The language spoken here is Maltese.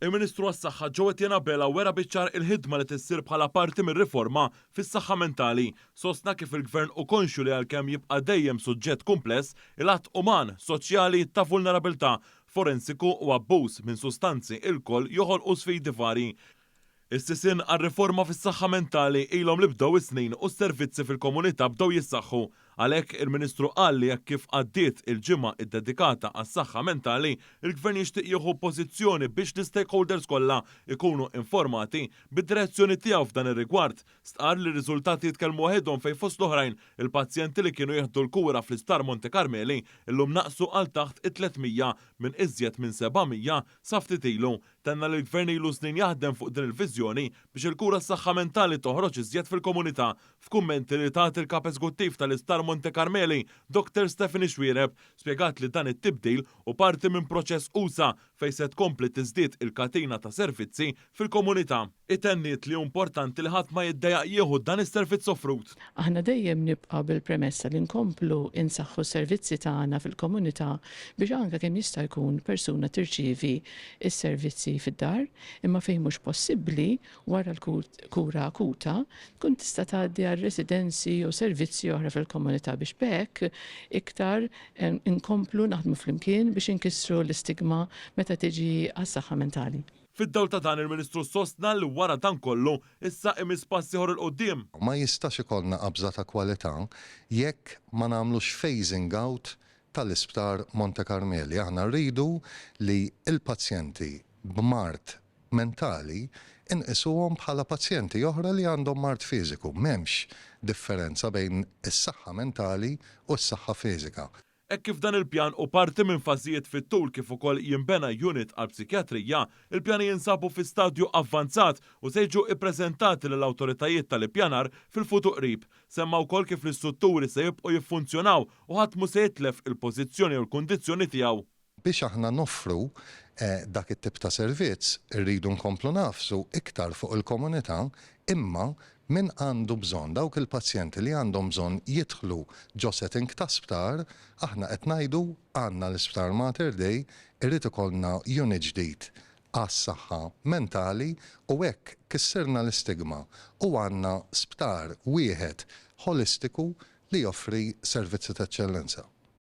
Il-Ministru għas-Saħħa Joe Etienne Abela wera biċċar il-ħidma li tissir bħala parti mir-riforma fis-saħħa mentali. Sostna kif il-Gvern u konxju li għalkemm jibqa' dejjem suġġett kumpless, il-għadd uman, soċjali, ta' vulnerabilità forensiku u abbuż minn sustanzi ilkoll joħolqu sfidi varji. Is-sisien għar-riforma fis-saħħa mentali ilhom li bdew is-snin u s-servizzi fil-komunità bdew jissaħħu. Għalhekk, il-Ministru qal li hekk kif għaddiet il-Ġimgħa ddedikata għas-Saħħa Mentali, il-Gvern jixtieq jieħu pożizzjoni biex l-istakeholders kollha jkunu informati bid-direzzjoni tiegħu f'dan ir-rigward. Stqarr li r-riżultati jitkellmu waħedhom fejn fost l-oħrajn, il-pazjenti li kienu jieħdu l-kura fl-Isptar Monte Karmeli illum naqsu għal taħt it-300 minn iżjed minn 700 sa ftit ilu. Tenna li l-Gvern ilu snin jaħdem fuq din il-viżjoni biex il-kura s-saħħa mentali toħroġ iżjed fil-komunità. F'kummenti li tat il-Kap Eżguttiv tal-Isptar Monte Karmeli, Dottor Stephanie Xuereb, spjegat li dan it-tibdil hu parti minn proċess usa' fejn se tkompli tiżdied il-katina ta' servizzi fil-komunità. Hi tenniet li hu importanti li ħadd ma jiddejjaq jieħu dan is-servizz offrut. Aħna dejjem nibqgħu bil-premessa li nkomplu nsaħħu s-servizzi tagħna fil-komunità biex anke kemm jista' jkun persuna tirċievi s-servizzi fid-dar, imma fejn mhux possibbli Wara l-kura akuta, tkun tista' tgħaddi għal residenzi jew servizzi oħra fil-komunità biex b'hekk iktar inkomplu naħdmu flimkien biex inkissru l-istigma meta tiġi għas-saħħa mentali. Fid-dawl ta' dan il-Ministru sostna li wara dan kollu, issa imiss pass ieħor 'il quddiem. Ma jistax ikollna qabża ta' kwalità jekk ma nagħmlux phasing out tal-Isptar Monte Karmeli. Aħna rridu li l-pazjenti b'mard mentali, inqisuhom bħala pazjenti oħra li għandhom mard fiżiku. M'hemmx differenza bejn is-saħħa mentali u s-saħħa fiżika. Hekk kif dan il-pjan hu parti minn fażijiet fit-tul kif ukoll jinbena unit għall-psikjatrija, il-pjani jinsabu fi stadju avvanzat u se jiġu ippreżentati lill-awtoritajiet tal-ippjanar fil-futu qrib. Semma wkoll kif l-istrutturi se jibqgħu jiffunzjonaw u ħadd mhu se jitlef il-pożizzjoni u l-kundizzjoni tiegħu. Biex aħna noffru dak it-tip ta' servizz, irridu nkomplu nagħfsu iktar fuq il-komunità, imma min għandu bżonn, dawk il-pazjenti li għandhom bżonn jidħlu ġo setting ta' sptar, aħna qed ngħidu għandna l-Isptar Mater Dei, irid ikollna unit ġdid għas-saħħa mentali u hekk kissirna l-istigma u għandna sptar wieħed ħolistiku li joffri servizzi t'eċċellenza.